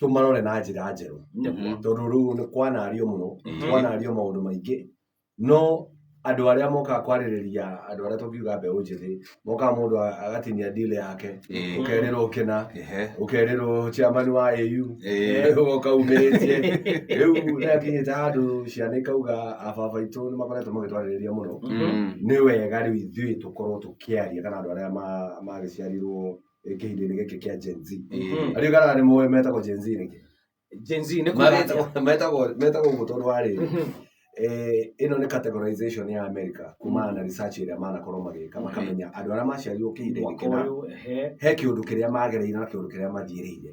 tũmarore na njĩra njerũ Mhm. tondũ rĩu nĩ kwanario mũno Mhm. kwanario maũndũ maingĩ no andũ arĩa mokaga kwarĩrĩria andũ arĩa tũngiuga mbeũ njĩthĩ mokaga mũndũ a- agatinia ndile yake Ĩĩ. ũkerĩrwo ũkĩna Ehe. ũkerĩrwo chairman wa au Ĩĩ. ũgoka umĩrĩtie rĩu nĩakinyĩte handũ ciana ikauga ababa itũ nĩ makoretwo magĩtwarĩrĩria mũno Mm. nĩ wega rĩu ithuĩ tũkorwo tũkĩaria kana andũ arĩa ma- magĩciarirwo kĩhindinĩ gĩkĩ kĩa Gen Z Mhm. arĩa kana nĩ moĩ metagwo Gen Z nĩkĩ Gen Z nĩ kuga atĩa? Maretagwo- metagwo metagwo ũguo tondũ wa rĩrĩ Mhm. eh, ĩno nĩ categorization ya America kumana na research ĩrĩa manakorwo magĩka Mhm. makamenya andũ arĩa maciarirwo kĩhinda-inĩ Mwaka kĩna ũyũ, ehe. he kĩũndũ kĩrĩa magereire na kĩũndũ kĩrĩa mathiĩrĩire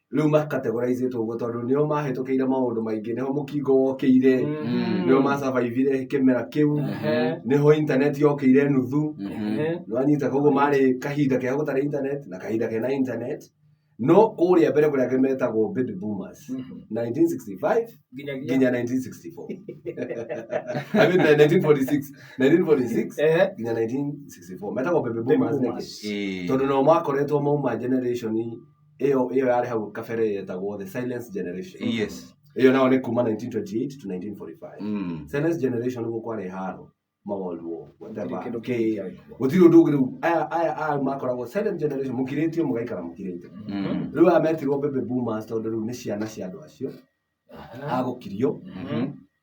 rĩu ma categorize two ũguo tondũ nĩo mahĩtũkĩire maũndũ maingĩ nĩho mũkingo wokĩire Mm. nĩo ma survivire kĩmera kĩu Ehe. nĩho internet yokĩire nuthu Ehe. nĩwanyita koguo marĩ kahinda kega gũtarĩ internet na kahinda kena internet no kũrĩa mbere kũrĩa angĩ metagwo baby boomers Mhm. 1965 Nginyagia. nginya 1964 I mean, 1946 1946 Ehe. nginya 1964 metagwo baby boomers nĩkĩ? boomers. Eh. tondå nao makoretwo mauma generation ĩyo ĩyo yarĩ hau kabere yetagwo the silence generation yes ĩyo nao nĩ kuma 1928 to 1945 mm. silence generation nĩguo kwarĩ haro mawalwo whatever. Kĩndũ Kĩ- kĩngĩ. gũtirĩ ũndũ ũngĩ rĩu aya aya aya makoragwo silent generation mũkirĩtio mũgaikara mũkirĩte Mm. rĩu aya metirwo baby boomers tondũ rĩu nĩ ciana cia andũ acio agũkirio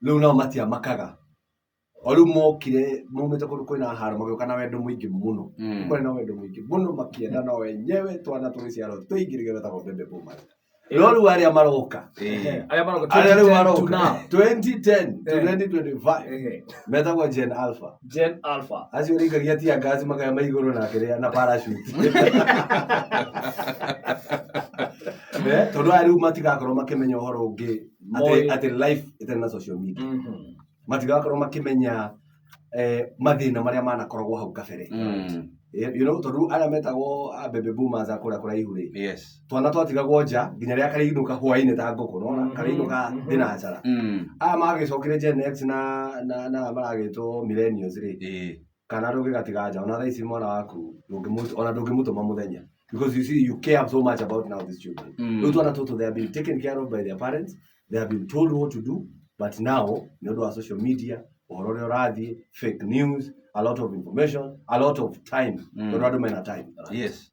rĩu nao matiamakaga o rĩu mokire maumĩte kũndũ kwĩna haro magĩũka na wendo mũingĩ mũno Mm. kwarĩ na wendo mũingĩ mũno makĩenda na wenyewe twana tũgĩciarwo tũingĩ nĩgetha tagwo mbembe bũmari no rĩu arĩa maroka Eh. Arĩa maroka arĩa rĩu 2010 to maroka now. 2010 to Eh. 2025 Ehe. metagwo gen alpha Gen Alpha. acio rĩikagia tia ngaci makaya ma igũrũ na kĩrĩa na parachute Eh, tondũ aya rĩu matigakorwo makĩmenya ũhoro ũngĩ atĩ- Moĩ. atĩ life ĩtarĩ na social media Mhm. matigakorwo makĩmenya eh, mathĩna marĩa manakoragwo hau kabere Mm. Eh, you know tondũ arĩa metagwo a baby boomers a kũrĩa kũraihu rĩ Yes. twana twatigagwo nja nginya rĩrĩa karainũka hwainĩ ta ngũkũ nona Mhm, karainũka mhm. thinacara Mm. aya magĩcokire gen x na na na maragĩtwo millennials rĩ Eh. kana rũgĩ gatiga nja ona thaa ici mwana waku ndũngĩmũ- ona ndũngĩmũtũma mũthenya because you see you care so much about now these children Mm. rĩu twana tũtũ they have been taken care of by their parents they have been told what to do but now nĩ ũndũ wa social media ũhoro ũrĩa ũrathiĩ fake news a lot of information a lot of time Mm. tondũ andũ mena time yes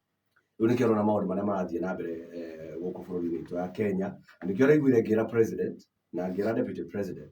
rĩu nĩkĩo ũrona maũndũ marĩa marathiĩ na mbere eh, gũkũ bũrũri-inĩ witũ ya kenya na nĩkĩo ũraiguire ngĩra president na ngĩra deputy president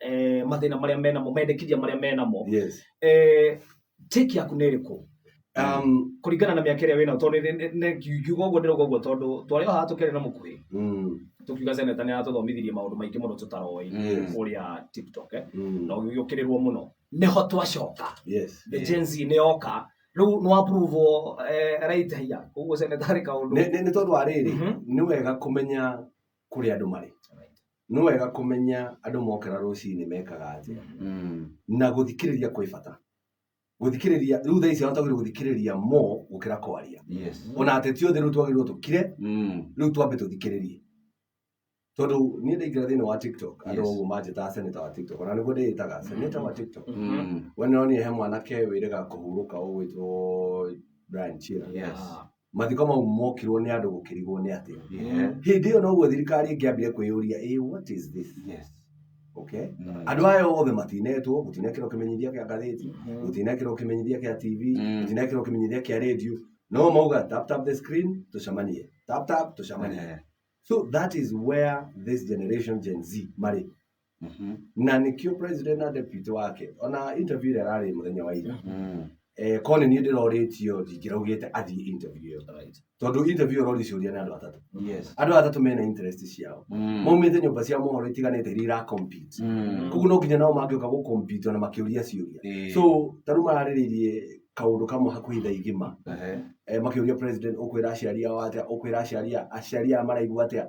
eh, mathĩna marĩa menamo mendekithia marĩa menamo yes eh, take yaku nĩ ĩrĩkũ um kũringana na mĩaka ĩrĩa wĩnayo tondũ nĩ- nĩ- nĩ- ngiuga ũguo ndĩroga ũguo tondũ twarĩ o haha tũkĩarĩ na mũkuhĩ mm tũkiuga seneta nĩ aratũthomithirie maũndũ maingĩ mũno tũtaroĩ Yes. ũrĩa tiktok eh, mm na ũgĩũkĩrĩrwo mũno nĩho twacoka yes the Gen Z nĩ yoka rĩu nĩ wapuruvo raitahia koguo seneta arĩ kaũndũ nĩ nĩ- nĩ tondũ wa rĩrĩ Mhm. nĩ wega kũmenya kũrĩa andũ marĩ nĩ wega kũmenya andũ mokĩra rũcinĩ mekaga atĩa na gũthikĩrĩria kwĩ bata gũthikĩrĩria rĩu thaa ici atagĩrĩirwo gũthikĩrĩria mo gũkĩra kwaria yes ona ateti othe rĩu twagĩrĩirwo tũkire mm. rĩu twambe tũthikĩrĩrie tondũ niĩ ndaingĩra thĩinĩ wa tiktok andũ Yes. ũguo manjĩtaga seneta wa tiktok ona nĩguo ndĩĩtaga seneta wa tiktok Mm. we nĩronire he mwanake wĩrĩga kũhurũka ũgwĩtwo brian chira yes mathiko mau mokirwo nĩ andũ gũkĩrigwo nĩ atĩa Yeah. hĩndĩ ĩyo noguo thirikari ĩngĩambire kwĩyũria ĩ what is this Yes. okay Mm. andå aya othe matinetwo gå tinekärwo kä menyithia kä a ngathäti gå tinekärwo kä menyithia kä a tv Mm. gå tinekärwo kä menyithia kä a radio no mauga tap tap the screen tå cemanie tap tap tå cemanie Eh. so that is where this generation gen z marä Mhm. na nĩkĩo president na deputy wake ona interview ĩrĩa ararĩ mũthenya wa ira Mm. eh, korwo nĩ niĩ ndĩrorĩtio ndingĩraugĩte athiĩ interview ĩyo Right. tondũ interview ĩrori ciũria nĩ andũ atatũ Yes. andũ aya atatũ mena interest ciao Mm. maumĩte nyũmba cia mohoro itiganĩte iria iracompete Mm. koguo no nginya nao mangĩũka gũcompete ona makĩũria ciũria Ĩĩ. so tarĩu mararĩrĩirie kaũndũ kamwe hakuhĩ thaa igima Ehe. eh, makĩũria president ũkwĩra aciari ao atĩa ũkwĩra aciari a- aciari aya maraigua atĩa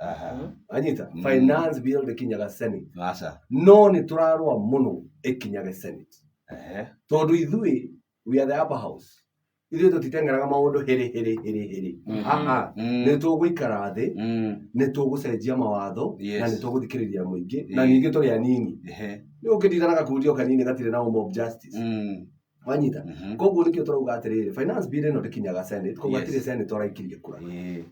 Aha. anyita Mm. finance bill bikinyaga senate Aca. no nĩ tũrarũa mũno ĩkinyage senate Ehe. tondũ ithuĩ we are the upper house ithuĩ tũtiteng'eraga maũndũ hĩrĩ hĩrĩ hĩrĩ hĩrĩ Mhm. Aha. Mm. nĩ tũgũikara thĩ Mm. nĩ tũgũcenjia mawatho Yes. na nĩ tũgũthikĩrĩria mũingĩ na Eh. ningĩ tũrĩ anini Ehe. nĩ ũngĩndidana gakundio kanini gatirĩ na home of justice Mm. wanyita Mhm. koguo nĩkĩo tũrauga atĩrĩrĩ finance bill ĩno ndĩkinyaga senate koguo Yes. hatirĩ senate ũraikirie kura Eh.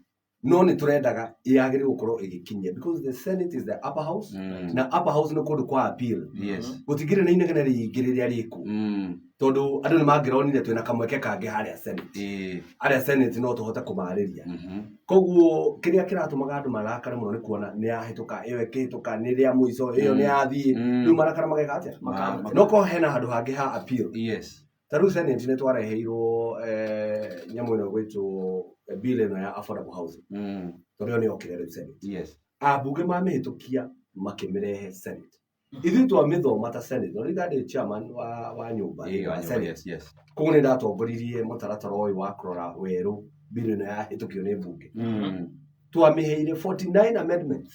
no nĩ tũrendaga yagĩrĩirwo gũkorwo ĩgĩkinyia because the senate is the upper house Mm. na upper house nĩ kũndũ kwa appeal Yes. gũtingĩrĩ na inegene rĩingĩ rĩrĩa rĩkũ Mm. tondũ andũ nĩ mangĩronire twĩna kamweke kangĩ harĩa senate Eh. arĩa senate no tũhote kũmarĩria Mhm. koguo kĩrĩa kĩratũmaga andũ marakare mũno nĩ kuona nĩ yahĩtũka ĩyo ĩkĩhĩtũka nĩ rĩa mũico ĩyo Mm. nĩ yathiĩ Mm. rĩu marakara mageka atĩa Maka- no korwo hena handũ hangĩ ha appeal Yes. Ta rĩu Senate nĩ twareheirwo eh, nyamũ ĩno gwĩtwo eh, bill ĩno ya affordable housing Mm. tondũ ĩyo nĩ yokire rĩu Senate Yes. ambunge mamĩhĩtũkia makĩmĩrehe Senate ithuĩ twamĩthoma ta Senate no rĩu chairman wa, wa nyũmba Ĩyo, wa nyũmba, Senate yes, yes. koguo nĩ ndatongoririe mũtaratara ũyũ wa kũrora werũ bill ĩno yahĩtũkio nĩ mbunge Mm. twamĩheire 49 amendments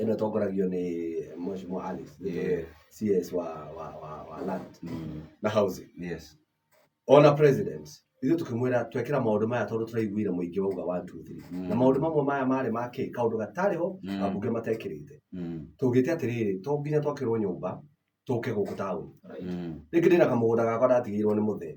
ĩno ĩtongoragio nĩ Mheshimiwa Alice nĩwe CS wa wa wa, wa land Mm. na housing Yes. ona president ithuĩ tũkĩmwĩra twekĩra maũndũ maya tondũ tũraiguire mũingĩ wauga 1 2 3 Mm. na maũndũ mamwe maya marĩ ma kĩ kaũndũ gatarĩ ho Mm. ambunge matekĩrĩte Mm. tũgĩte atĩrĩrĩ to nginya twakĩrwo nyũmba tũke gũkũ taũni Mm. rĩngĩ ndĩna kamũgũnda gakwa ndatigĩirwo nĩ mũthee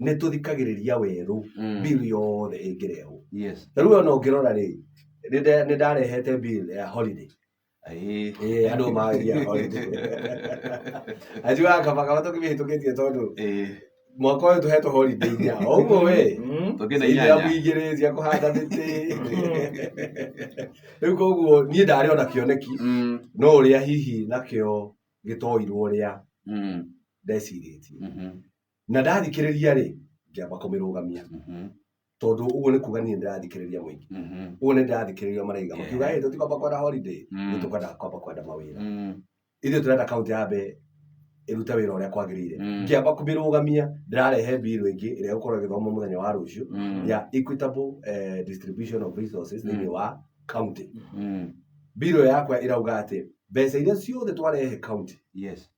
nĩ tũthikagĩrĩria werũ Mm. bill yothe ĩngĩrehwo yes ta rĩu ona ũngĩrora rĩ nĩ nda- nĩ ndarehete bill ya holiday Ĩĩ. Ĩĩ, andũ magĩa holiday ajuaga kaba kaba tũkĩmĩhĩtũkĩtie tondũ Ĩĩ. mwaka ũyũ tũhetwo holiday inya ũguo we Mm. Tũkĩna Ithira inyanya. mũingĩrĩ cia kũhanda mĩtĩ rĩu koguo niĩ ndarĩ ona kĩoneki Mm, no ũrĩa hihi nakĩo gĩtoirwo ũrĩa mm, ndecirĩtie mhm. na ndathikĩrĩria-rĩ ngĩamba kũmĩrũgamia Mhm. tondũ ũguo nĩ kuga niĩ ndĩrathikĩrĩria mũingĩ Mhm. ũguo nĩ ndĩrathikĩrĩria maraiga makiuga ĩ tũtikwamba kwenda holiday Mm. nĩ tũkwenda kwamba kwenda mawĩra Mm. ithuĩ tũrenda kaunti ya mbe ĩrute wĩra ũrĩa kwagĩrĩire Mm. ngĩamba kũmĩrũgamia ndĩrarehe mbirũ ĩngĩ ĩrĩa ĩgũkorwo ĩgĩthoma mũthenya wa rũciũ Mm. ya equitable eh, distribution of resources thĩinĩ wa county Mm. mbirũ yakwa ĩrauga atĩ mbeca iria ciothe twarehe county Yes.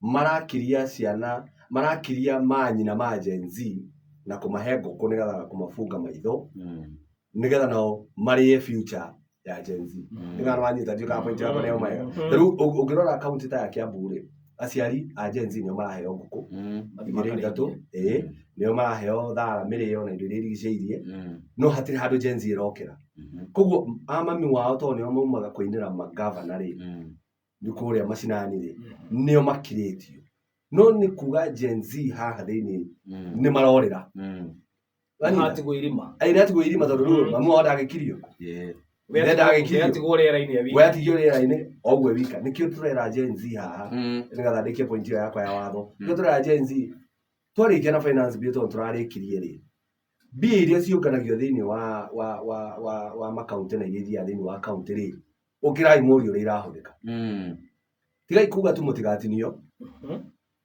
marakiria ciana, marakiria manyina ma Gen Z na kũmahe ngũkũ nĩgetha na kũmabunga maitho nĩgetha nao marĩe future ya Gen Z. Nĩgetha nĩ wanyita ndiũĩ kana point yakwa nĩ yauma wega. Ta rĩu ũng- ũngĩrora kaunti ta ya Kiambu rĩ, aciari a Gen Z nĩo maraheo ngũkũ igĩrĩ ithatũ, ĩĩ, nĩo maraheo thara, mĩrĩo na indo iria irigicĩirie, no hatirĩ handũ Gen Z ĩrokĩra. Koguo a mami wao tondũ nĩo maumaga kũinĩra mangavana rĩ, nĩ kũrĩa macinani rĩ nĩo makirĩtio no nĩ kuga Gen Z haha thĩinĩ nĩ marorĩra atigwo irima ĩ nĩ atigwo irima tondũ rĩu mamu wao ndagĩkirio Yeah. we Ndenda agĩkirio. atigwo rĩera-inĩ we awika atigio rĩera-inĩ oguo wika nĩkĩo tũrera Gen Z haha Mm. nĩgetha ndĩkie point ĩyo yakwa ya watho Mm. nĩkĩo tũrera Gen Z twarĩkia na finance bill tondũ tũrarĩkirie rĩ mbia iria ciũnganagio thĩinĩ wa wa wa wa wa makaunti na iria ithiaga thĩinĩ wa kaunti rĩ ũkĩrai mũri ũrĩa irahũthĩka Mm. tigai kuga tu mũtigatinio Mhm.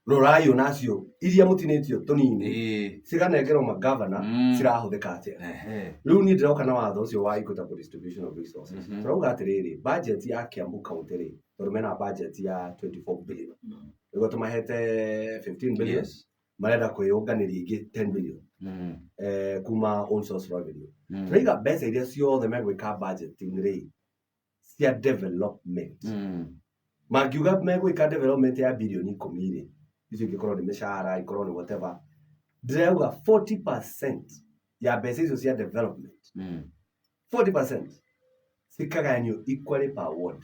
rorai ona acio iria mũtinĩtio tũnini Ĩĩ. ciganengerwo magavana Mm. cirahũthĩka atĩa Ehe. rĩu niĩ ndĩroka na watho ũcio wa equitable distribution of resources Mhm. tũrauga atĩrĩrĩ budget ya kiambu county rĩ tondũ mena budget ya 24 billion nĩguo tũmahete 15 billion Yes. marenda kwĩyũnganĩria ingĩ 10 million Mm. eh, kuma own source revenue Mm. tũraiga mbeca iria ciothe megwĩka budgeting rĩ cia development Mm. mangiuga megwĩka development ya bilioni ikũmi rĩ icio ingĩkorwo nĩ mĩcara ikorwo nĩ whatever ndĩrauga 40 percent ya mbeca icio cia development Mm. 40 percent cikagayanio equally per ward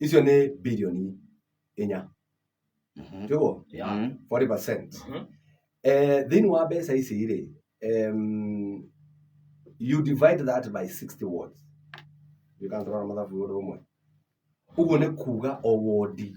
icio nĩ birioni inya Mhm. tiguo Yeah. Mhm. 40 percent Mhm. eh, thĩinĩ wa mbeca ici rĩ em, you divide that by 60 wards ndikantũrona mathabu ũndũ ũmwe ũguo nĩ kuga o wodi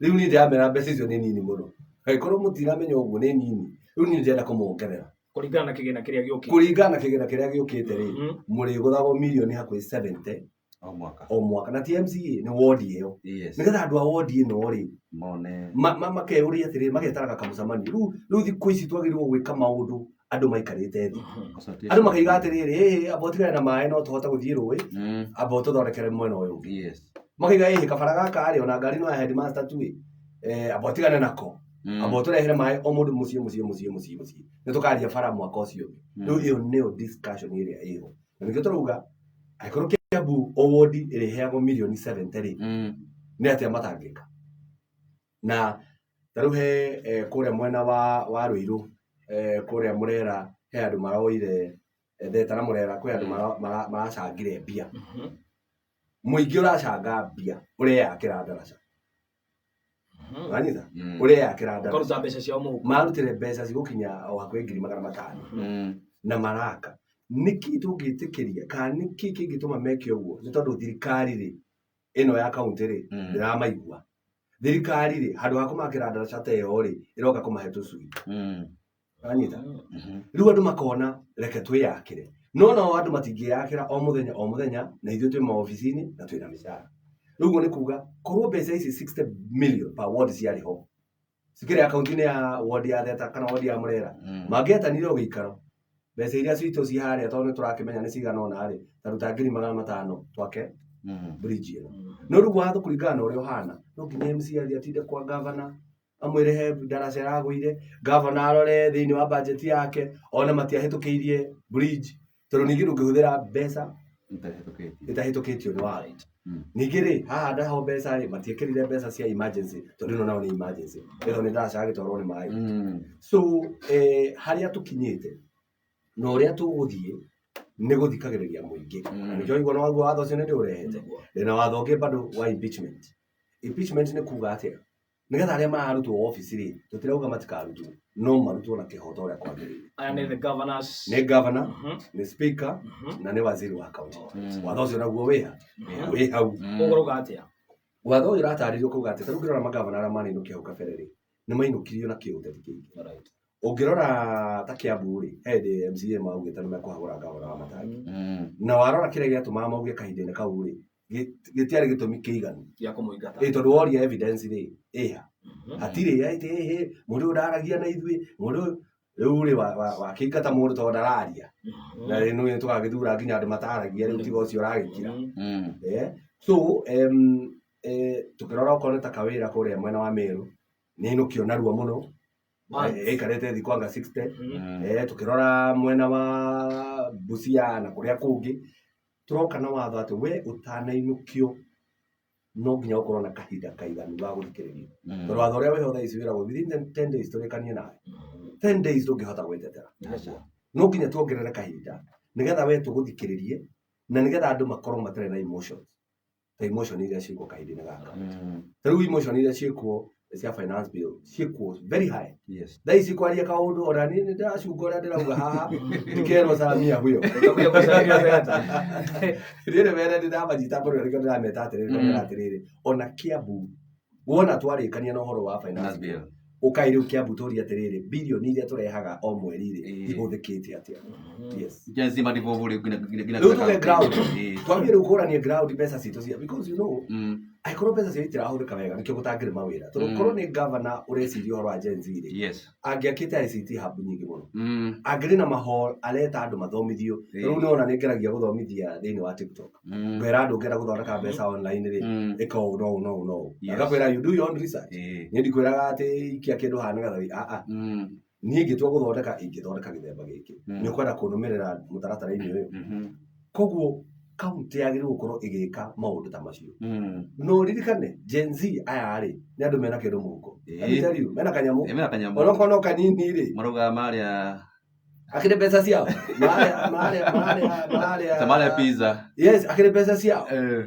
Rĩu niĩ ndĩramera mbeca icio nĩ nini mũno. Angĩkorwo mũtiramenya ũguo nĩ nini, rĩu niĩ ndĩrenda kũmongerera. Kũringana na kĩgĩna kĩrĩa gĩũkĩte. Kũringana na kĩgĩna kĩrĩa gĩũkĩte rĩ, mm. mũrĩgũthagwo mirioni hakuhĩ 70 o mwaka o mwaka na TMCA nĩ wodi ĩyo nĩgetha andũ a wodi ĩno rĩ makeyũria atĩrĩ magetaraga kamũcemanio rĩu thikũ ici twagĩrĩirwo gwĩka maũndũ andũ maikarĩte thĩ Ũbatiĩ- andũ makaiga atĩrĩrĩ "Ĩĩ, amba ũtigane na maĩ no tũhote gũthiĩ rũĩ Mm, amba ũtũthondekere mwena ũyũ ũngĩ yes. makaiga ĩhĩ kabara gaka rĩ ona ngari no ya headmaster tu ĩ Eh, amba ũtigane nako Mm, amba ũtũrehere maĩ o mũndũ mũciĩ mũciĩ mũciĩ mũciĩ mũciĩ nĩ tũkaria bara mwaka ũcio Mm. rĩu ĩyo nĩyo discussion ĩrĩa ĩho na nĩkĩo tũrauga angĩkorwo kĩambu owodi ĩrĩheagwo mirioni 70 rĩ mm. nĩ atĩa matangĩka Na tarĩu he kũrĩa mwena wa wa Rũirũ kũrĩa Mũrera he andũ maroire theta na Mũrera kwĩ andũ maracangire mbia. Mũingĩ ũracanga mbia ũreyakĩra ndaraca. Wanyita? Ũreyakĩra ndaraca. Makaruta mbeca ciao mũhuko. Marutire mbeca cigũkinya o hakuhĩ ngiri magana matano na maraka. Nĩkĩ tũngĩtĩkĩria kana nĩkĩ kĩngĩtũma meke ũguo? Nĩ tondũ thirikari-rĩ ĩno ya kaunti rĩ Mm. ndĩramaigua thirikari rĩ handũ ha kũmakĩra ndaraca ta ĩyo rĩ ĩroka kũmahe tũcui Mm. anyita Mhm. rĩu andũ makona reke twĩyakĩre no nao andũ matingĩyakĩra o mũthenya o mũthenya na ithuĩ twĩ maobici-inĩ na twĩ na mĩcara rĩu ũguo nĩ kuga korwo mbeca ici 60 million per ward ciarĩ ho cikĩrĩ akaunti-inĩ ya wodi ya theta kana wodi ya mũrera Mm. mangĩetanire ũgĩikaro mbeca iria citũ ciĩ harĩa tondũ nĩ tũrakĩmenya nĩ cigana ona rĩ ta ruta ngiri magana matano twake Mm. bridge ĩyo no rĩu watho kũringana na ũrĩa ũhana no nginya mcr atinde kwa gavana amwĩre he ndaraca ĩragũire gavana arore thĩinĩ wa bajeti yake one matiahĩtũkĩirie bridge tondũ ningĩ ndũngĩhũthĩra mbeca Itahĩtũkĩtio. itahĩtũkĩtio nĩ warrant Mm. ningĩ rĩ haha ndaho mbeca rĩ matiekĩrire mbeca cia emergency tondũ ĩno nayo nĩ emergency ĩno nĩ ndaca yagĩtwarwo nĩ maĩ Mm. so eh, harĩa tũkinyĩte na ũrĩa tũgũthiĩ nĩ gũthikagĩrĩria mũingĩ Mm. Na nĩkĩo ũiguana waguo watho ũcio nĩ ndĩũrehete ndĩna watho ũngĩ bado wa impeachment impeachment nĩ kuga atĩa nĩgetha arĩa mararutwo obici rĩ tũtirauga matikarutwo no marutwo na kĩhoto ũrĩa kwagĩrĩire aya nĩ the governors nĩ gavana Mhm. nĩ speaker Mhm. na nĩ waziri wa kaunti Mm. watho ũcio naguo wĩha Mhm. wĩ hau Mm. ũguo rũga atĩa watho ũyũ ũratarĩrio kuga atĩ tarĩu ũngĩrora magavana arĩa maninũkia hau kabere rĩ nĩ mainũkirio na kĩũteti kĩingĩ Alright. ũngĩrora ta kĩambu rĩ he hĩndĩ mca maugĩte nĩ mekũhagũra gavana wa matangi Mm. na warora kĩrĩa gĩatũmaga mauge kahinda-inĩ kau rĩ gĩt- gĩtiarĩ gĩtũmi kĩiganu gĩa kũmũingata ĩ tondũ woria evidence rĩ ĩha Mhm. hatirĩ ya ĩtĩ ĩhĩ mũndũ ũyũ ndaragia na ithuĩ mũndũ ũyũ- rĩu rĩ wa- wa- wakĩingata mũndũ tondũ ndararia Mhm. na rĩu nĩ tũgagĩthura nginya andũ mataragia rĩu tiga ũcio ũragĩkira Mhm. Mm. Eh, so em, eh, tũkĩrora okorwo nĩ ta kawĩra kũrĩa mwena wa mĩrũ nĩ nũkio narua mũno Once. Eh, ĩikarĩte thikũ anga 60 Mhm. Mm. Eh, tukirora mwena wa busia na kuria kungi tũroka na watho atĩ we ũtanainũkio no nginya ũkorwo na kahinda kaiganu ga gũthikĩrĩrio Mm. tondũ watho ũrĩa wĩho thaa ici wĩragwo within the 10 days tũrĩkanie nawe 10 days ndũngĩhota gwĩtetera Aca. no nginya tuongerere kahinda nĩgetha we tũgũthikĩrĩrie na nĩgetha andũ makorwo matarĩ na emotions ta emotion iria ciĩkuo kahinda-inĩ gaka Mm. ta rĩu emotion iria ciĩkuo cia finance bill ciĩkuo very high Yes. thaa ici kwaria kaũndũ ona niĩ nĩ ndĩracunga ũrĩa ndĩrauga haha ndikerwo samia huyo Utakuja kusalia sasa. rĩrĩ were ndĩramanyita mbaru na nĩkĩo ndĩrameta atĩrĩrĩ Mm. ndĩramera atĩrĩrĩ ona kĩambu wona twarĩkania na ũhoro wa finance Nathi. bill ũkaĩ rĩu kĩambu tũũrie atĩrĩrĩ bilioni iria tũrehaga o mweri rĩ Ĩĩ. ihũthĩkĩte atĩa yes Nginya zima ndivyo vuri gina gina gina. rĩu tuge ground Eh. twambie rĩu kũranie ground mbeca citũ cia because you know Mm. angĩkorwo mbeca cio itirahũthĩka wega nĩkĩo gũtangĩrĩ mawĩra tondũ Mm. korwo nĩ gavana ũreciria ũhoro wa Gen Z rĩ Yes. angĩakĩte ICT hub nyingĩ mũno mm. angĩrĩ na mahol areta andũ mathomithio rĩu nĩ ona nĩ ngeragia gũthomithia thĩinĩ wa tiktok mm. ngwĩra andũ ngenda gũthondeka mm. mbeca online rĩ mm. ĩka ũũ no no no agakwĩra you do your own research nĩ ndikwĩraga atĩ ikia kĩndũ hana nĩgetha a a niĩ ngĩtua gũthondeka ingĩthondeka gĩthemba gĩkĩ nĩ ũkwenda kũnũmĩrĩra mũtaratara-inĩ ũyũ mm-hmm. koguo kaunti yagĩrĩirwo gũkorwo ĩgĩka maũndũ ta macio Mm. no ririkane gen z aya rĩ nĩ andũ mena kĩndũ mũhuko Ĩĩ. Let me tell you, mena kanyamũ Ĩ, mena kanyamũ onokorwo no kanini rĩ maraugaga marĩa akĩrĩ mbeca ciao mararĩa mararĩa mararĩa mararĩa tamarĩa pizza yes akĩrĩ mbeca ciao Eh,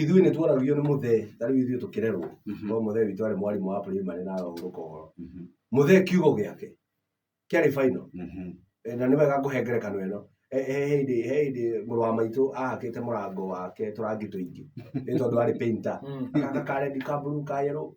Ithuĩ nĩ tuonagio nĩ mũthee, ta rĩu ithuĩ tũkĩrerwo, no mũthee witũ arĩ mwarimũ wa primary na arahurũka ũhoro. Mũthee kiugo gĩake kĩarĩ final. Eh, Na nĩ wega ngũhe ngerekano ĩno. Eh, He hĩndĩ he hĩndĩ mũrũ wa maitũ ahakĩte mũrango wake tũrangi tũingĩ nĩ tondũ arĩ painter. Agaka ka red, ka blue, ka yellow.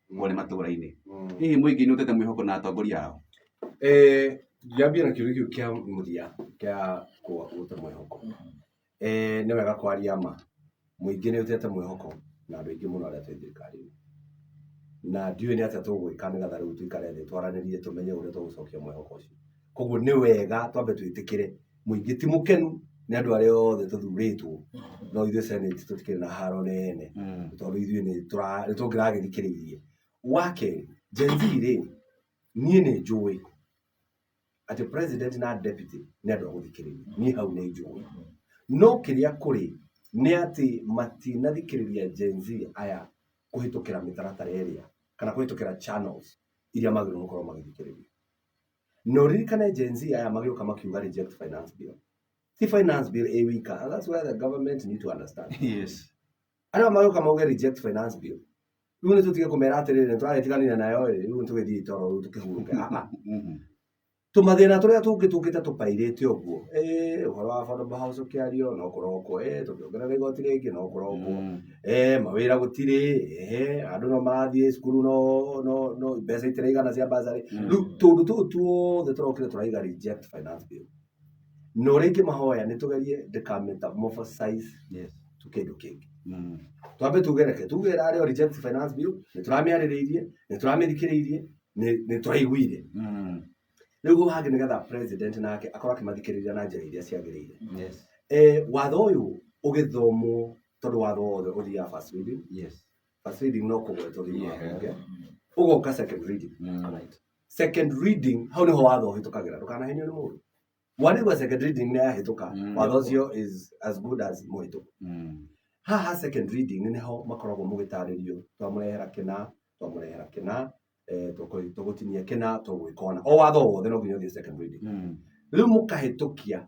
wone matũũra-inĩ hihi mũingĩ nĩ ũtete mwĩhoko na atongoria ao Eh, ngĩambia na kĩũria kĩu kĩa mũthia kĩa kũ- gũte mwĩhoko Eh, nĩ wega kwaria ma mũingĩ nĩ ũtete mwĩhoko na andũ aingĩ mũno arĩa twĩ thirikari-inĩ na ndiũĩ nĩ atĩa tũgwĩka nĩgetha rĩu tũikare thĩ twaranĩrie tũmenye ũrĩa tũgũcokia mwĩhoko ũcio koguo nĩ wega twambe twĩtĩkĩre mũingĩ ti mũkenu nĩ andũ arĩa othe tũthurĩtwo no ithuĩ senate tũtikĩrĩ na haro nene tondũ ithuĩ nĩ tũra- nĩ tũngĩragĩthikĩrĩirie wa kerĩ Gen Z rĩ niĩ nĩ njũĩ atĩ president na deputy nĩ andũ a gũthikĩrĩria niĩ hau nĩ njũĩ no kĩrĩa kũrĩ nĩ atĩ matinathikĩrĩria Gen Z aya kũhĩtũkĩra mĩtaratara ĩrĩa kana kũhĩtũkĩra channels iria magĩrĩirwo gũkorwo magĩthikĩrĩria No ririkane Gen Z aya magĩũka makiuga reject finance bill. Ti finance bill ĩ wika. And that's where the government need to understand. Yes. Arĩa magĩũka mauge reject finance bill. Rĩu nĩ tũtige kũmera atĩrĩrĩ nĩ tũragĩtiganire nayo ĩ, rĩu nĩ tũgĩthiĩ toro rĩu tũkĩhurũke. Ah, ah. Mhm. Tũmathĩna tũrĩa tũngĩ tũkĩte tũpairĩte ũguo. Ĩ, ũhoro wa affordable house ũkĩario no kũrokwo. Ĩ, tũkĩongerera igoti rĩngĩ no kũrokwo. Mm. eh, mawĩra gũtirĩ eh, andũ no marathiĩ cukuru no no no mbeca itiraigana cia bazarĩ Mm. rĩu tũndũ tũu tuothe tũrokire tũraiga reject finance bill na ũrĩa ingĩmahoya nĩ tũgerie ndĩkametamorphosize Yes. to kĩndũ kĩngĩ Mm. twambe tugereke tuge ĩrarĩ o reject finance bill nĩ tũramĩarĩrĩirie nĩ tũramĩthikĩrĩirie nĩ- nĩ tũraiguire Mm. rĩu hau hangĩ nĩgetha president nake akorwo akĩmathikĩrĩria na njĩra iria ciagĩrĩire Yes. eh, watho ũyũ ũgĩthomwo tondũ watho wothe ũthiaga first reading yes first reading no kũgwetwo thĩinĩ wa bunge ũgoka second reading Alright. second reading hau nĩho watho ũhĩtũkagĩra ndũkanahenio nĩ mũndũ mwanĩgua second reading nĩ yahĩtũka Mm. watho ũcio is as good as mũhĩtũku haha second reading nĩho makoragwo mũgĩtarĩrio twamũrehera kĩna twamũrehera kĩna eh, tũkũ- tũgũtinia kĩna tũgwĩka ona o watho wothe no nginya ũthiĩ second reading rĩu mũkahĩtũkia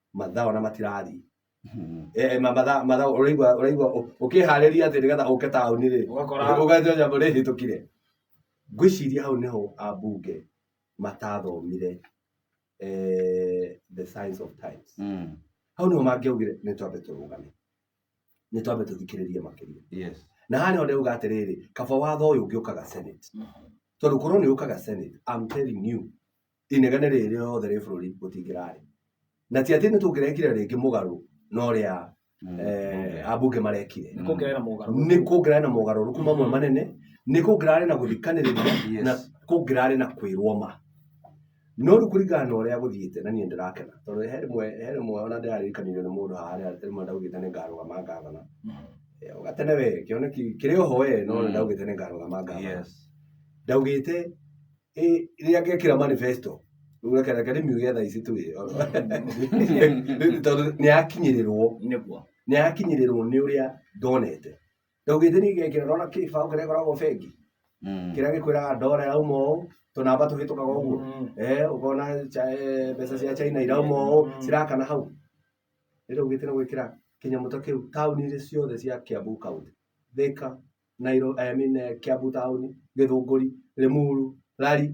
mathaa ona matirathiĩ Mhm. Eh, ma- mathaa mathaa ũraigua ũraigua ũ- ũkĩharĩria atĩ nĩgetha ũke taũni rĩ Ũgakora- ũgathiĩ nyambo nĩ hĩtũkire ngwĩciria hau nĩho ambunge matathomire eh, the science of times Mm. hau nĩho mangĩaugire nĩ twambe tũrũgame nĩ twambe tũthikĩrĩrie makĩria Yes. na haha nĩho ndĩuga atĩrĩrĩ kaba watho ũyũ ũngĩũkaga senate tondũ korwo nĩ ũkaga senate I'm telling you inegene rĩrĩ rĩothe rĩ bũrũri gũtingĩrarĩ na ti atĩ nĩ tũngĩrekire rĩngĩ mũgarũ na ũrĩa eh, ambunge marekire Nĩ kuongerera mogarũ. nĩ kũngĩrarĩ na mogarũrũku mamwe manene nĩ kũngĩrarĩ na gũthikanĩrĩria na kũngĩrarĩ na kwĩrwo ma no rĩu kũringana na ũrĩa gũthiĩte na niĩ ndĩrakena tondũ he rĩmwe he rĩmwe ona ndĩraririkanirio nĩ mũndũ harĩa rĩmwe ndaugĩte nĩ ngarũgama ngavana Eh, ũgatene we kĩoneki kĩrĩ oho we no nĩ ndaugĩte nĩ ngarũgama ngavana ndaugĩte ĩ rĩrĩa ngekĩra manifesto rĩu reke reke ndĩmiuge thaa ici tu ĩ tondũ nĩ yakinyĩrĩrwo nĩguo nĩ yakinyĩrĩrwo nĩ ũrĩa ndonete ndaugĩte nĩ ngekĩra ndona kĩbaũ kĩrĩa koragwo bengi Mm. kĩrĩa gĩkwĩraga ndora ĩrauma ũũ tũnamba tũhĩtũkaga ũguo Eh, ũkona cha- eh, mbeca cia china irauma ũũ Mm. cirakana hau rĩrĩa ugĩte nĩ gwĩkĩra kĩnyamũ ta kĩu taũni-inĩ ciothe cia kiambu kaunti thika Nairo, I mean, eh, Kiambu Town, Gĩthũngũri, Limuru, Rari,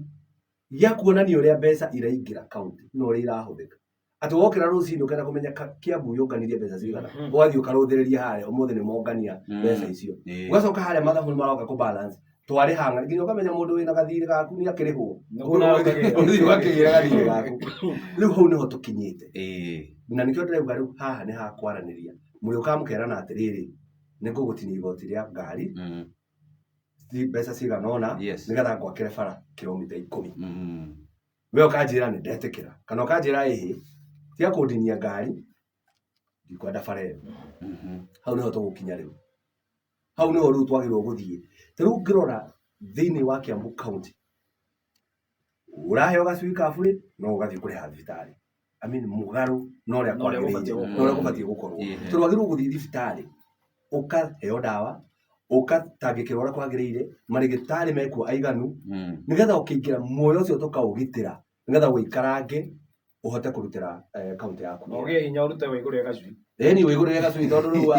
gĩa kuonania ũrĩa mbeca iraingĩra kaunti na ũrĩa irahũthĩka. Atĩ wokĩra rũcinĩ ũkenda kũmenya ka- Kiambu yũnganirie mbeca cigana, Mhm. ũgathiĩ ũkarũthĩrĩria harĩa ũmũthĩ nĩ mongania Mm. mbeca icio. Ĩĩ. Ũgacoka harĩa mathabu nĩ maroka kũ balance twarĩha ng'ana nginya ũkamenya mũndũ wĩna gathirĩ gaku nĩ akĩrĩhwo Nĩ kũna ũkagĩra. Ũthiĩ ũgakĩgĩra gathirĩ gaku rĩu hau nĩho tũkinyĩte Ĩĩ. na nĩkĩo ndĩrauga rĩu haha nĩ ha kwaranĩria mũrĩũkaga mũkerana atĩrĩrĩ nĩ ngũgũtinia igoti rĩa ngari mm. ci- mbeca cigana ũna Yes. nĩgetha ngwakĩre bara kilomita ikũmi Mm. we ũkanjĩra nĩ ndetĩkĩra kana ũkanjĩra ĩhĩ cia kũndinia ngari ndikwenda bara ĩyo Mhm. hau nĩho tũgũkinya rĩu hau nĩho rĩu twagĩrĩirwo gũthiĩ ta rĩu ngĩrora thĩinĩ wa kiambu county ũraheo gacui ka burĩ no ũgathiĩ kũrĩha thibitarĩ I mean, mũgarũ na ũrĩa Na ũrĩa kwagĩrĩire gũbatiĩ na ũrĩa gũkorwo. gũbatiĩ gũkorwo Ĩĩ. tondũ wagĩrĩirwo gũthiĩ thibitarĩ ũkaheo ndawa ũgatangĩkĩrwo ũrĩa kwagĩrĩire marĩgĩtarĩ mekuo aiganu Mm. nĩgetha ũkĩingĩra muoyo ũcio tũkaũgitĩra nĩgetha ũikarange ũhote kũrutĩra eh, kaunti yaku wĩra. Ogĩ hinya ũrute wa igũrũ ya gacui. Ĩni ũihũrĩre gacui tondũ rĩu wa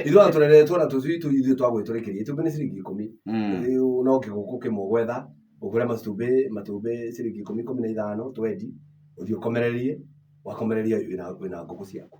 ithuĩ ona tũreretwo na tũcui tũ ithuĩ twa gwĩtũrĩkĩria itumbĩ nĩ ciringi ikũmi Mm. Rĩu no kĩgũkũ kĩmwe gwetha ũgũre matumbĩ matumbĩ ciringi ikũmi ikũmi na ithano twendi ũthiĩ ũkomererie wakomereria wĩna wĩna ngũkũ ciaku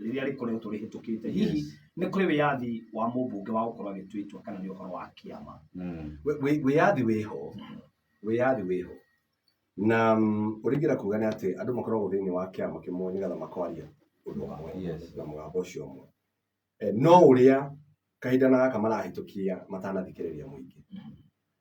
rĩrĩa rĩkoretwo rĩhĩtũkĩte hihi Yes. nĩ kũrĩ wĩyathi wa mũmbunge wa gũkorwo agĩtuĩtwo kana nĩ ũhoro wa kĩama Mm. Wĩ- wĩ- wĩyathi wĩho wĩyathi wĩho na mm, ũringĩra kuga nĩ atĩ andũ makoragwo thĩinĩ wa kĩama kĩmwe nĩgetha makwaria ũndũ ũmwe Yes. na mũgambo ũcio ũmwe Eh, no ũrĩa kahinda na gaka marahĩtũkia matanathikĩrĩria mũingĩ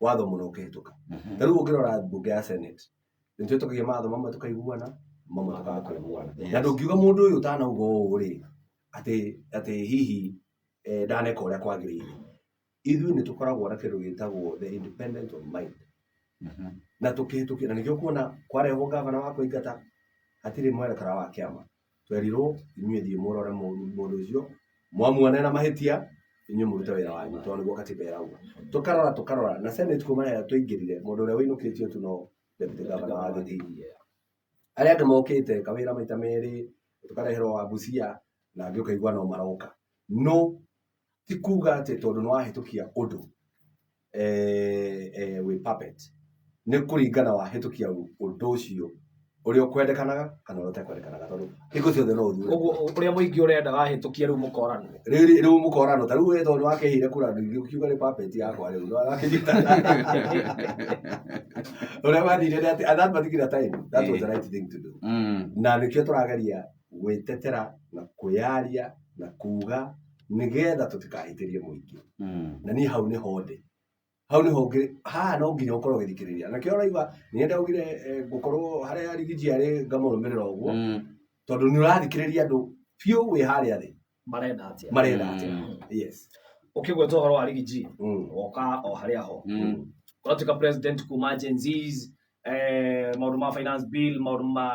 watho mũna ũkĩhĩtũka Mhm. na rĩu ũngĩrora mbunge ya senate nĩ twĩtũkagia matho mamwe tũkaiguana mamwe tũkaga kũiguana Yes. na ndũngiuga mũndũ ũyũ ũtanauga ũũ rĩ atĩ atĩ hihi eh, ndaneka ũrĩa kwagĩrĩire ithuĩ nĩ tũkoragwo na kĩndũ gĩtagwo the independent of mind Mhm. na tũkĩhĩtũkia na nĩkĩo kuona kwarehwo ngavana wa kũingata hatirĩ mwerekera wa kĩama twerirwo inyuĩ thiĩ mũrore mũru mũndũ ũcio mwamuona ena mahĩtia inyuĩ mũrute wĩra wanyu tondũ nĩguo katiba ĩrauga tũkarora tũkarora na senate kuma rĩrĩa twaingĩrire mũndũ ũrĩa wĩinũkĩtio tu no deputy governor wa gĩthii arĩa angĩ mokĩte kawĩra maita merĩ tũkareherwo wa busia na angĩ ũkaigua no maroka no ti kuga atĩ tondũ nĩwahĩtũkia ũndũ eh, eh, wĩ puppet nĩ kũringana wahĩtũkia ũndũ ũcio ũrĩa ũkwendekanaga kana ũrĩa ũtekwendekanaga tondũ hingo ciothe no ũthure ũguo ũrĩa mũingĩ ũrenda wahĩtũkia rĩu mũkorano rĩu rĩu mũkorano ta rĩu we tondũ nĩwakĩhire kura ndũingĩ ũkiuga nĩ puppet yakwa rĩu nĩwakĩnyita ũrĩa wathire nĩ atĩ and that particular time that was the right thing to do Mm. na nĩkĩo tũrageria gwĩtetera na kwĩyaria na kuga nĩgetha tũtikahĩtĩrie mũingĩ Mm. na niĩ hau nĩho ndĩ hau nĩho ngĩ haha no nginya ũkorwo ũgĩthikĩrĩria na kĩo ũraigua nĩ ndaugire eh, ngũkorwo harĩa rigiji arĩ ngamũrũmĩrĩra ũguo Mm. tondũ nĩ ũrathikĩrĩria andũ biũ wĩ harĩa thĩ marenda atĩa marenda atĩa Mm. yes ũkĩgweta ũhoro wa rigiji Mm. woka o harĩa ho Mm. ũratuĩka president kuma Gen Zs, eh, maũndũ ma finance bill maũndũ ma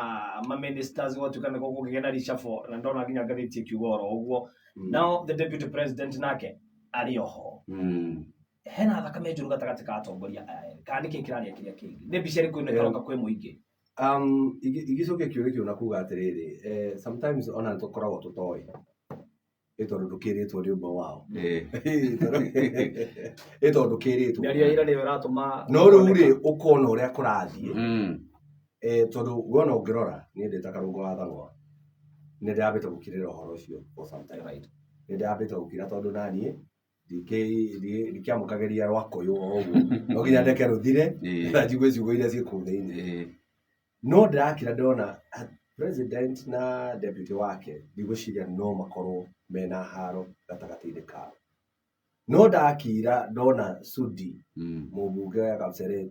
ma ministers ũgatuĩka nĩ gũkũgĩa na reshuffle na ndona nginya ngathĩti ĩkiuga oro ũguo Mm. now the deputy president nake arĩ oho Mm. hena thakame njũru gatagatĩ ka atongoria aya erĩ. kana nĩkĩ kĩraria kĩrĩa kĩngĩ nĩ mbica ĩrĩkũ ĩno ĩkaroka kwĩ mũingĩ Gĩcũhĩ kĩũgĩ kĩu na kuuga atĩrĩrĩ, sometimes o na nĩ tũkoragwo tũtoĩ ĩ tondũ ndũkĩrĩtwo nĩ ũmwe wao. Ĩ tondũ ndũkĩrĩtwo. Mĩario ya ira nĩyo ĩratũma. No rĩu rĩ, ũkona ũrĩa kũrathiĩ, tondũ we o na ũngĩrora, niĩ ndĩ ta Karũngũ wa Thang'wa, nĩ ndĩrambĩte gũkirĩra ũhoro ũcio for some time. Nĩ ndĩrambĩte gũkira tondũ o na niĩ ndikĩ- ndi- ndikiamũkagĩria rwa kũyũ o ũguo no nginya ndeke rũthire Ĩĩ. na njigue ciugo iria ciĩ kũu thĩinĩ Ĩĩ. no ndĩrakira ndona ah, president na deputy wake ndigwĩciria no makorwo mena haro gatagatĩ-inĩ kao no ndakira ndona sudi Mm. mũmbunge wa kapseret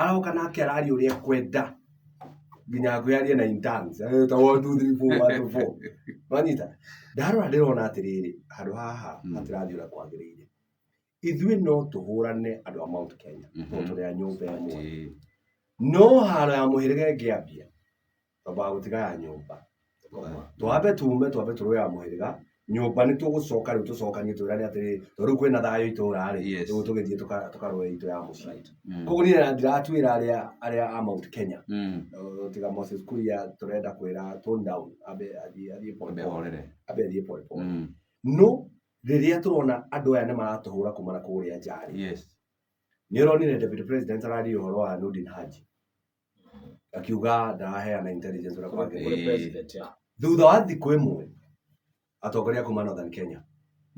aroka nake araria ũrĩa ekwenda nginya ngwĩ arie na interns Eh, ta one two three four one two four wanyita ndarora ndĩrona atĩrĩrĩ handũ haha Mm. hatirathiĩ ũrĩa kwagĩrĩire ithuĩ no tũhũrane andũ a mount kenya Mhm. tondũ tũrĩ a nyũmba ĩmwe Ĩĩ. no haro ya mũhĩrĩga ĩngĩambia twambaga gũtiga ya nyũmba twambe tume twambe tũrũe ya mũhĩrĩga nyũmba nĩ tũgũcoka rĩu tũcokanie twĩrane atĩrĩ tondũ rĩu kwĩna thayũ itũra-rĩ Yes. rĩu tũgĩthiĩ tũka- tũkarũe itũ ya mũciĩ Mm. koguo niĩ na ndiratuĩra arĩa arĩa a Mount Kenya Mm. Uh, tiga Moses Kuria tũrenda kwĩra tone down ambe athiĩ athiĩ pole Ambe pole ahorere. ambe athiĩ pole pole Mm. no rĩrĩa tũrona andũ aya nĩ maratũhũra kumana kũrĩa njarĩ Yes. nĩ ũronire deputy president araria ũhoro wa Nurdin Haji akiuga ndaraheana intelligence ũrĩa kwagĩrĩire Kũrĩ president, yeah. thutha wa thikũ ĩmwe atongoria a kuma northern kenya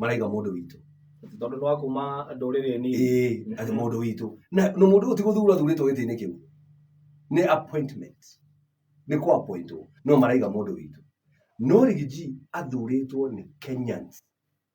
maraiga mũndũ witũ tondå nä wakuma ndå rä rä nini ĩĩ atĩ mũndũ witũ na na mũndũ ũyũ ti gũthura athurĩtwo gĩtĩ-inĩ kĩu nĩ appointment nĩ kwa appointwo no maraiga mũndũ witũ no rigiji athurĩtwo nĩ kenyans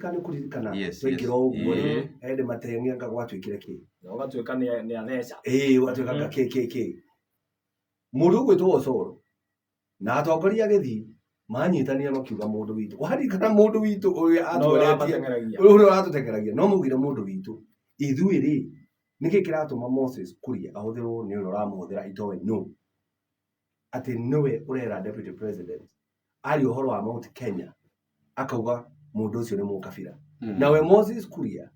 kana nĩ kũririkana Yes, twaingĩra yes. ũguo rĩ Ĩĩ. ende mateng'ia nga gwatuĩkire kĩ na ũgatuĩka nĩ nĩ atheca ĩĩ gwatuĩka nga kĩ kĩ kĩ mũndũ ũgwĩtwo ocoro na atongoria agĩthiĩ manyitanire makiuga mũndũ witũ waririkana mũndũ witũ ũrĩa no atũretie ũramateng'eragia ũrĩa ũrĩa ũratũteng'eragia no maugire mũndũ witũ ithuĩ rĩ nĩkĩ kĩratũma moses kũria ahũthĩrwo nĩ ũrĩa ũramũhũthĩra itoĩ no atĩ nĩwe ũrera deputy president aria ũhoro wa Mount Kenya akauga mũndũ ũcio nĩ mũkabira mm. nawe Moses Kuria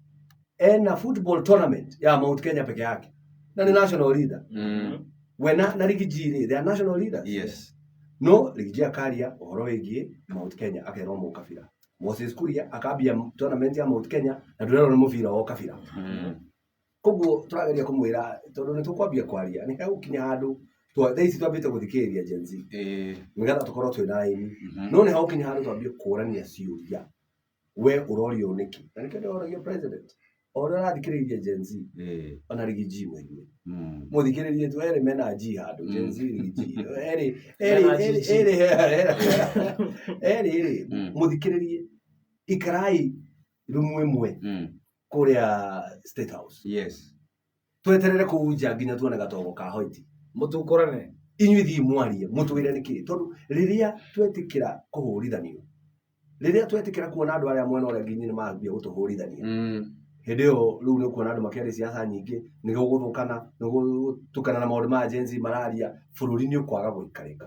ena football tournament ya Mount Kenya peke yake na nĩ national leader mm. we na, na Riggy G rĩ they are national leaders yes. no Riggy G akaria ũhoro wĩgiĩ Mount Kenya akerwo mũkabira Moses Kuria akambia tournament ya Mount Kenya na ndũrerwo nĩ mũbira wa ũkabira mm. koguo tũrageria kũmwĩra tondũ nĩ tũkwambia kwaria nĩ hegũkinya handũ twa- thaa ici twambĩte gũthikĩrĩria Gen Z Eh, nĩgetha tũkorwo twĩ na aini mhm. no nĩ hegũkinya handũ twambie kũrania ciũria we ũrorio nĩkĩ na nĩkĩo ndĩroragia president o ũrĩa ũrathikĩrĩria Gen Z Eh, ona rigi G mwĩigue mm. mũthikĩrĩrie tu erĩ mena G handũ Gen Z rigi G erĩ erĩ Mena erĩ GG. erĩ erĩ erĩ Mm. mũthikĩrĩrie ikarai rumu ĩmwe Mm. kũrĩa state house yes tweterere kũu nja nginya tuone gatogo ka hoiti mũtukũrane inyuĩ thiĩ mwarie mũtwĩre nĩ kĩĩ tondũ rĩrĩa twetĩkĩra kũhũrithanio rĩrĩa twetĩkĩra kuona andũ arĩa mwena ũrĩa nginya nĩ mambia gũtũhũrithania Mm. hĩndĩ ĩyo rĩu nĩ kuona andũ makĩaria ciaca nyingĩ nĩ gũgũthũkana nĩ gũtukana na maũndũ ma jenzi mararia bũrũri nĩ ũkwaga gũikarĩka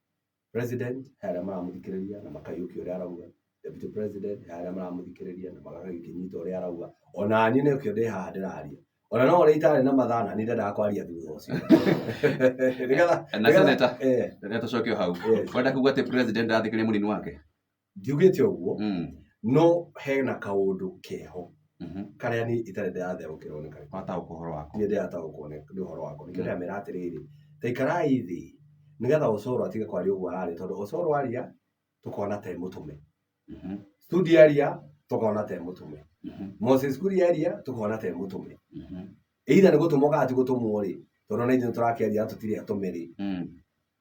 President he arĩa maramũthikĩrĩria na makaiyũkia ũrĩa arauga, Deputy President he arĩa maramũthikĩrĩria na magakĩnyita ũrĩa arauga, ona niĩ nĩkĩo ndĩ haha ndĩraria ona no ũrĩa itarĩ na mathaa na nĩ ndendaga kwaria thutha ũcio Nĩgetha- na nĩgetha- seneta eh, reke tũcoke o hau Yes. kwenda kuga atĩ president arathikĩrĩria mũnini wake ngiugĩte ũguo Mm. no hena kaũndũ keho Mhm. karĩa niĩ itarĩ ndĩratherũkĩrwo nĩ karĩkũ Wata ũhoro waku. niĩ ndĩrataũkwo nĩ nĩ ũhoro wakwa nĩkĩo ndĩramera atĩrĩrĩ ta ikarai thĩ nĩgetha ũcoro atige kwaria ũguo ararĩ tondũ ũcoro waria tũkona te mũtũme Mhm. studi aria tũkona te mũtũme Mhm. moses kuri aria tũkona te mũtũme Mhm. either nĩ gũtũmwo kana ti gũtũmwo rĩ tondũ na ithuĩ tũrakĩaria tũtirĩ atũme rĩ Mm.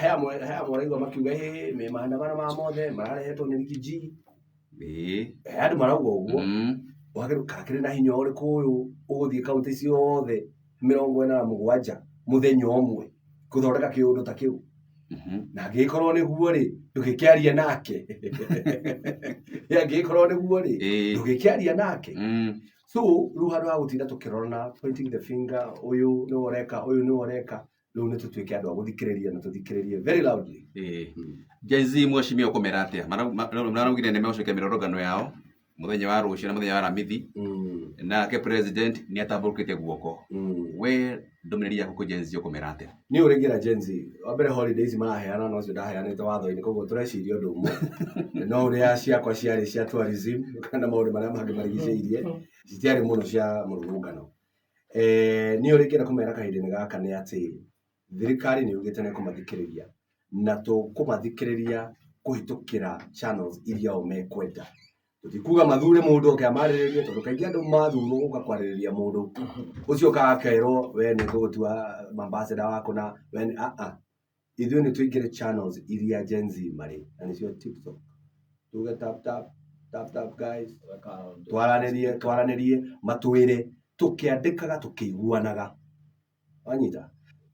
he amwe he amwe ũraigua makiuga ĩ me maandamano ma mothe mararehetwo nĩ rigiji Ĩĩ. he andũ marauga ũguo Mm. wagĩrĩirwo kakĩrĩ na hinya ũrĩkũ ũyũ ũgũthiĩ kaunti ciothe mĩrongo ĩna na mũgwanja mũthenya ũmwe gũthondeka kĩũndũ ta kĩu Mhm. na angĩgĩkorwo nĩguo rĩ ndũgĩkĩaria nake Ĩ, angĩgĩkorwo nĩguo rĩ Ĩĩ. ndũgĩkĩaria nake Mm. so rĩu handũ ha gũtinda tũkĩrorana pointing the finger ũyũ nĩwe ũreka ũyũ nĩwe ũreka rĩu nĩ tũtuĩke andũ a gũthikĩrĩria na tũthikĩrĩrie very loudly Eh. Gen Z mwacimia ũkũmera atĩa Mara- ma- maraugire nĩ megũcokia mĩrorongano yao mũthenya wa rũciũ na mũthenya wa ramithi Mm, nake president nĩ atambũrũkĩte guoko mm. we ndũmĩrĩri yaku kwĩ Gen Z ũkũmera atĩa niä å rä ngä ra genzi wa mbere holidays maraheana no cio ndaheanä te watho-inä koguo tå reciria å ndå mwe no å rä a ciakwa ciarä cia tourism kana maå ndå marä a mangä marigicä irie citiarä må no cia må rå ngano Niĩ ũrĩa ingĩenda kũmera kahinda-inĩ gaka nĩ atĩ, thirikari nĩ yugĩte nĩ ĩkũmathikĩrĩria, na tũkũmathikĩrĩria kũhĩtũkĩra channels iria o mekwenda. Tũtikuga mathure mũndũ oke amarĩrĩrie tondũ kaingĩ andũ mathurwo gũka kwarĩrĩria mũndũ, ũcio ũkaga akerwo we nĩ ngũgũtua ambassador waku na we nĩ, aa. Ithuĩ nĩ tũingĩre channels iria Gen Z marĩ, na nĩcio TikTok. Tuge tap tap, tap tap guys, twaranĩrie, twaranĩrie, matwĩre, tũkĩandĩkaga, tũkĩiguanaga. Wanyita?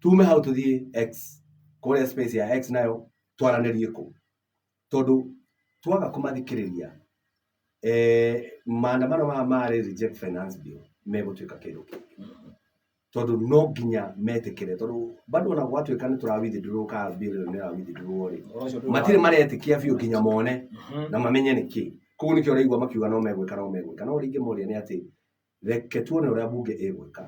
Tume hau tũthiĩ X, kũrĩa space ya X nayo, twaranĩrie kũu. Tondũ twaga kũmathikĩrĩria, maandamano maya ma Reject Finance Bill megũtuĩka kĩndũ kĩngĩ. Tondũ no nginya metĩkĩre, tondũ bado ona gwatuĩka nĩ tũra withdraw ka bill ĩyo nĩ ĩra withdraw rĩ, matirĩ maretĩkia biũ nginya mone na mamenye nĩ kĩĩ. Kũguo nĩkĩo ũraigua makiuga no megwĩka no megwĩka. No ũrĩa ingĩmoria nĩ atĩ, reke tuone ũrĩa mbunge ĩgwĩka.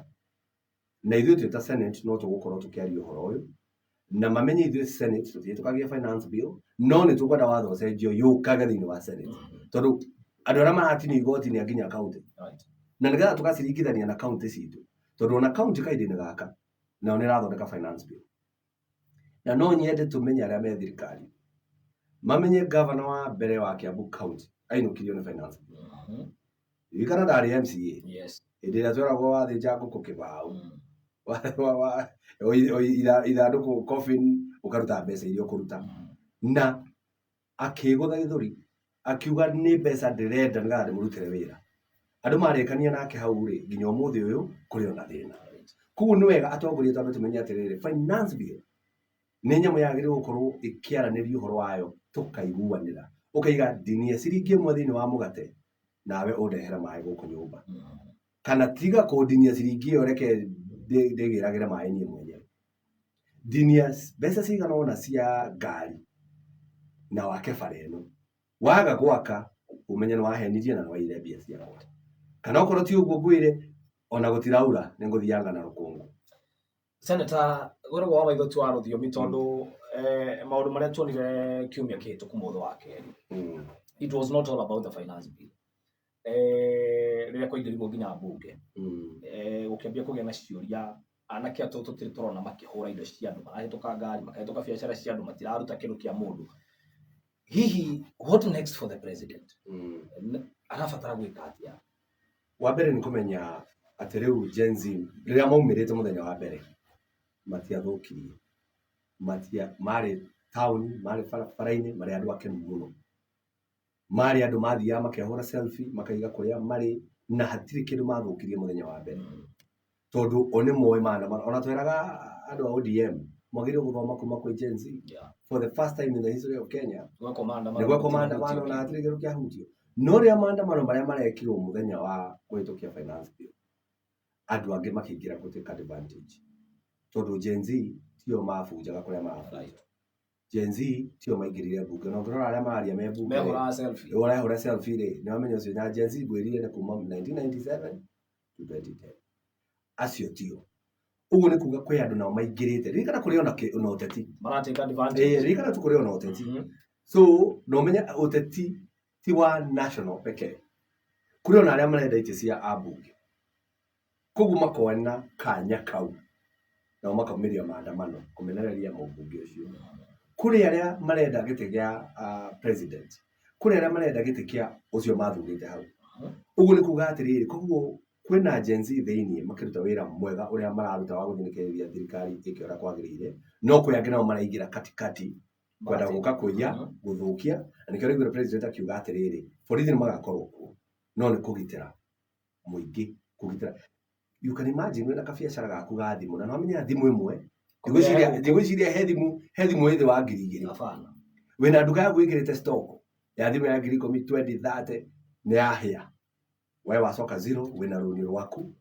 na ithuĩ twĩ ta senate no tũgũkorwo tũkĩaria ũhoro ũyũ na mamenye ithuĩ senate tũtiĩtũkagia finance bill no nĩ tũkwenda watho ũcenjio yũkage thĩinĩ wa senate tondũ andũ arĩa maratinio igoti nĩ anginya kaunti na nĩgetha tũgaciringithania na kaunti citũ tondũ ona kaunti kahinda-inĩ gaka nayo nĩ ĩrathondeka finance bill. Na no nyende tũmenye arĩa me thirikari. Mamenye gavana wa mbere wa Kiambu County ainũkirio nĩ finance. Mhm. Ririkana ndarĩ MCA. Yes. Hĩndĩ ĩrĩa tweragwo wathĩnja ngũkũ kĩbaũ. Mm. Wa- wa- wa- o i- o i- itha- ithandũkũ coffin ũkaruta mbeca iria ũkũruta. Mhm. Na akĩĩgũtha gĩthũri akiuga nĩ mbeca ndĩrenda nĩgetha ndĩmũrutĩre wĩra andũ marekania nake hau rĩ nginya ũmũthĩ ũyũ kũrĩ ona thĩna koguo nĩ wega atongoria twambe tũmenye atĩrĩrĩ finance bill nĩ nyamũ yagĩrĩirwo gũkorwo ĩkĩaranĩria ũhoro wayo tũkaiguanĩra ũkaiga ndinie ciringi ĩmwe thĩinĩ wa mũgate nawe ũndehera maĩ gũkũ nyũmba kana tiga kũndinia ciringi ĩyo reke ndĩgĩragĩre maĩ niĩ mwenyewe ndinia mbeca cigana ona cia ngari na wake bara ĩno waga gwaka ũmenye nĩ wahenirie na nĩ waire mbia cia goti kana okorwo ti ũguo ngwĩre ona gũtiraura nĩ ngũthianga na rũkũngũ seneta gwĩragwo wa maitho twa rũthiomi tondũ eh, maũndũ marĩa tuonire kiumia kĩhĩtũku mũthĩ wa kerĩ mm. it was not all about the finance bill eh, rĩrĩa kwaingĩrirwo nginya mbunge Mm. eh, gũkĩambia kũgĩa na ciũria anake atũ tũtirĩ tũrona makĩhũra indo cia andũ marahĩtũka ngari makahĩtũka biacara cia andũ matiraruta kĩndũ kĩa mũndũ hihi what next for the president Mm. N- arabatara gwĩka atĩa wa mbere nĩ kũmenya atĩ rĩu Gen Z rĩrĩa maumĩrĩte mũthenya wa mbere matiathũkirie matia marĩ taũni marĩ bara- bara-inĩ marĩ andũ akenu mũno marĩ andũ mathiaga makehũra selfie makaiga kũrĩa marĩ na hatirĩ kĩndũ mathũkirie mũthenya wa mbere tondũ o nĩ moĩ maandamano ona tweraga andũ a ODM mwagĩrĩirwo gũthoma kuma kwĩ Gen Z Yeah. for the first time in the history of Kenya Gwekwo maandamano. nĩgwekwo gũtirĩ maandamano gũtirĩ. na hatirĩ kĩndũ kĩahutio no rĩa maandamano marĩa marekirwo mũthenya wa kũhĩtũkia finance bill andũ angĩ makĩingĩra gũtuĩka advantage tondũ Gen Z tio mabunjaga kũrĩa mabunjaga Right. Gen Z tio maingĩrire mbunge na ũngĩrora arĩa mararia me mbunge rĩ, mehũraga selfie ũrĩa ũrahũra selfie rĩ nĩ wamenya ũcio na Gen Z ngwĩrire nĩ kuma 1997 to 2010 acio tio ũguo nĩ kuga kwĩ andũ nao maingĩrĩte ririkana kũrĩ ona kĩ- ona ũteti maratake advantage Eh, ririkana tu kũrĩ ona ũteti Mhm. so na ũmenye ũteti ti wa national pekee kũrĩ ona arĩa marenda itĩ cia ambunge Koguo makoona kanya kau nao makaumĩria maandamano kũmenereria mũmbunge ũcio. Kũrĩ arĩa marenda gĩtĩ gĩa president, kũrĩ arĩa marenda gĩtĩ kĩa ũcio mathurĩte hau. Ũguo nĩ kuga atĩrĩrĩ, koguo kwĩna Gen-Z thĩinĩ makĩruta wĩra mwega ũrĩa mararuta wa gũthikĩrĩria thirikari ĩke ũrĩa kwagĩrĩire, no kũrĩ angĩ nao maraingĩra katikati kwenda gũka kũiya, gũthũkia, na nĩkĩo ũraiguire president akiuga atĩrĩrĩ, borithi nĩ magakorwo kuo no nĩ kũgitĩra. mũingĩ kũgitĩra you can imagine wĩna kabiacara gaku ga thimũ na nĩwamenya thimũ ĩmwe ndigwĩciria ndigwĩciria he thimũ he thimũ ĩthĩ wa ngiri igĩrĩ Hapana. wĩna nduka yaku ĩkĩrĩte stock ya thimũ ya ngiri ikũmi twendi thate nĩ yahĩa we wacoka zero wĩna rũni rwaku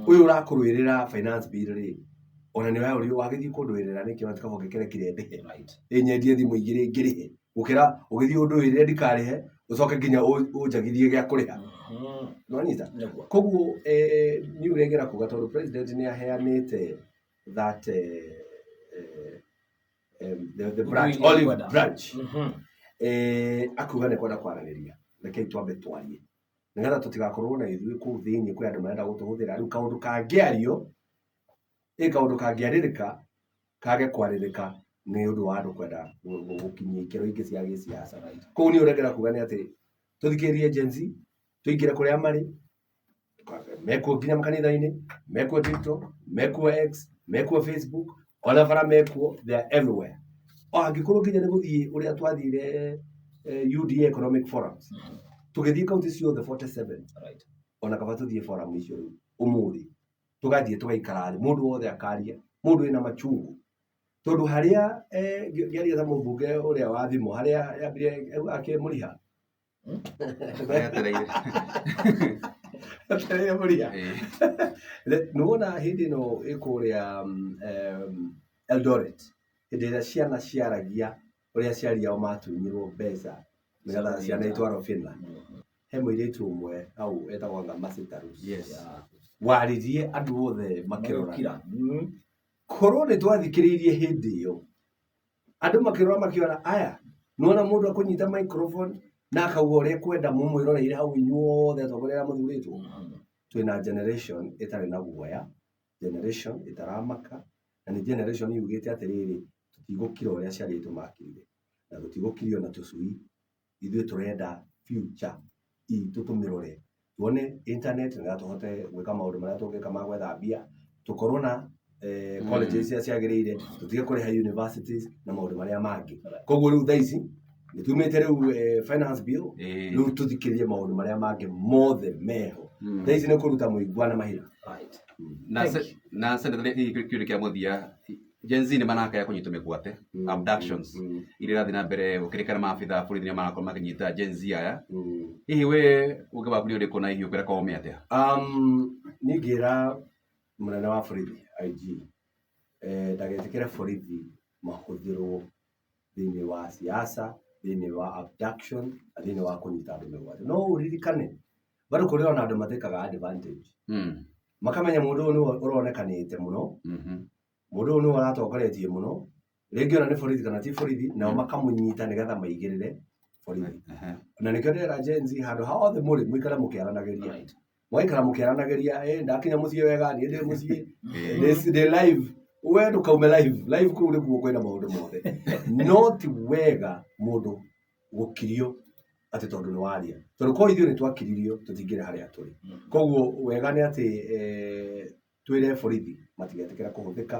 ũyũ ũrakũrũĩrĩra finance bill rĩ ona nĩ we ũrĩ wagĩthiĩ kũndũĩrĩra nĩkĩ ona tikaba ũngĩkĩrekire ndĩhe Right. ĩnyendie thimũ igĩrĩ ngĩrĩhe gũkĩra ũgĩthiĩ ũndũ ĩrĩa ndikarĩhe ũcoke nginya ũ- ũnjagithie gĩa kũrĩha Mhm. nonyita Nĩguo. koguo eh, niĩ ũrĩa ngera kuga tondũ president nĩ aheanĩte that eh, eh, em, the, the branch, Ũndũ iria olive ngwenda. branch Mhm. eh, akuga nĩ kwenda kwaranĩria rekei twambe twarie nĩgetha tũtigakorwo na ithuĩ kũu thĩinĩ kwĩ andũ marenda gũtũhũthĩra rĩu kaũndũ kangĩario ĩ kaũndũ kangĩarĩrĩka kage kwarĩrĩka nĩ ũndũ wa andũ kwenda gũkinyia ikĩro ingĩ cia gĩsiasa. Kũu niĩ ũrengera kuga nĩ atĩ tũthikĩrĩrie Gen Z, tũingĩre kũrĩa marĩ, mekuo nginya makanitha-inĩ, mekuo TikTok, mekuo X, mekuo Facebook, ona bara mekuo, they are everywhere. O angĩkorwo nginya nĩ gũthiĩ ũrĩa twathire eh, UDA Economic Forums, tũgĩthiĩ kaunti ciothe 47, ona kaba tũthiĩ forum icio rĩu ũmũthĩ. tũgathiĩ tũgaikara thĩ mũndũ wothe akaria mũndũ wĩna machungu tondũ harĩa eh, ngĩ- ngĩaria na mũmbunge ũrĩa wa thimũ harĩa yambire auga akĩmũriha Etereire. Akĩrĩa mũriha Eh, Re- nĩ wona hĩndĩ ĩno ĩkũrĩa mm, em, eldoret hĩndĩ ĩrĩa ciana ciaragia ũrĩa aciari ao matunyirwo mbeca nĩgetha ciana itwarwo Finland he mũirĩtu ũmwe hau etagwo anga Masitaru Yes. waririe andũ othe makĩrora Makĩrora. Mm. korwo nĩ twathikĩrĩirie hĩndĩ ĩyo andũ makĩrora makĩona aya nĩwona mũndũ akũnyita microphone na akauga ũrĩa kwenda mũmwĩroreire hau inyuothe atongoria arĩa mũthurĩtwo twĩna generation ĩtarĩ na guoya generation ĩtaramaka, na nĩ generation yugĩte atĩrĩrĩ, tũtigũkira ũrĩa ciana itũ makirire, na tũtigũkirio nĩ tũcui, ithuĩ tũrenda future itũ tũmĩrore, tuone internet nĩgetha tũhote gwĩka maũndũ marĩa tũngĩka ma gwetha mbia, tũkorwo na college iria ciagĩrĩire, tũtige kũrĩha universities na maũndũ marĩa mangĩ. Koguo rĩu thaa ici... nĩ tumĩte rĩu eh, finance bill Eh. rĩu tũthikĩrĩrie maũndũ marĩa mangĩ mothe meho Mm. thaa ici nĩ kũruta mũigua na mahira Right. na Thank se- na senate kĩũrĩ kĩa mũthia Gen Z nĩ marakaya kũnyitwo mĩgwate Mm. abductions Mm. iria irathiĩ na mbere gũkĩrĩkana maabitha bũrũri nĩ marakorwo makĩnyita Gen Z aya Mm. hihi we ũngĩ waku nĩ ũrĩkũ na hihi ũkwĩra kome atĩa Um, ningĩra mũnene wa borithi IG eh, ndagĩtĩkĩre borithi mahũthĩrwo thĩinĩ wa siasa, thĩinĩ wa abduction, na thĩinĩ wa kũnyita andũ mĩgwate. No ũririkane, bado kũrĩ ona andũ matĩkaga advantage. Mm. Makamenya mũndũ ũyũ nĩwe ũronekanĩte mũno, Mhm. mũndũ ũyũ nĩwe ũratongoretie mũno, rĩngĩ ona nĩ borithi kana ti borithi, nao makamũnyita nĩgetha maigĩrĩre borithi. Ehe. Na nĩkĩo ndĩrera Gen Z handũ hothe mũrĩ mũikare mũkĩaranagĩria. Right. mwaikara mũkĩaranagĩria eh, ndakinya mũciĩ wega niĩ ndĩ mũciĩ Eh, Ndĩ- ndĩ live we ndũkaume live live kũu nĩkuo kwĩna maũndũ mothe no ti wega mũndũ gũkirio atĩ tondũ nĩ waria tondũ korwo ithuĩ nĩ twakiririo tũtingĩrĩ harĩa tũrĩ koguo wega nĩ atĩ eh, twĩre borithi matigetĩkĩra kũhũthĩka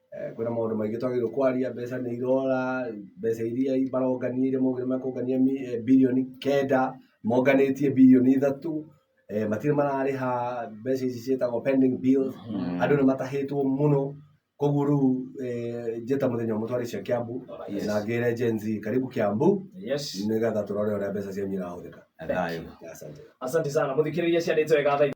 Kwĩna maũndũ maingĩ twagĩrĩirwo kwaria, mbeca nĩ irora, mbeca iria marongania iria maugire makũngania birioni kenda, monganĩtie birioni ithatũ, matirĩ mararĩha mbeca ici ciĩtagwo pending bills, andũ nĩ matahĩtwo mũno, koguo rĩu njĩta mũthenya ũmwe twarĩe cia Kiambu na ngĩre Gen Z karibu Kiambu nĩgetha tũrore ũrĩa mbeca cianyu irahũthĩka. Thayũ. Asante sana. Mũthikĩrĩria ciarĩte wega thaa ici.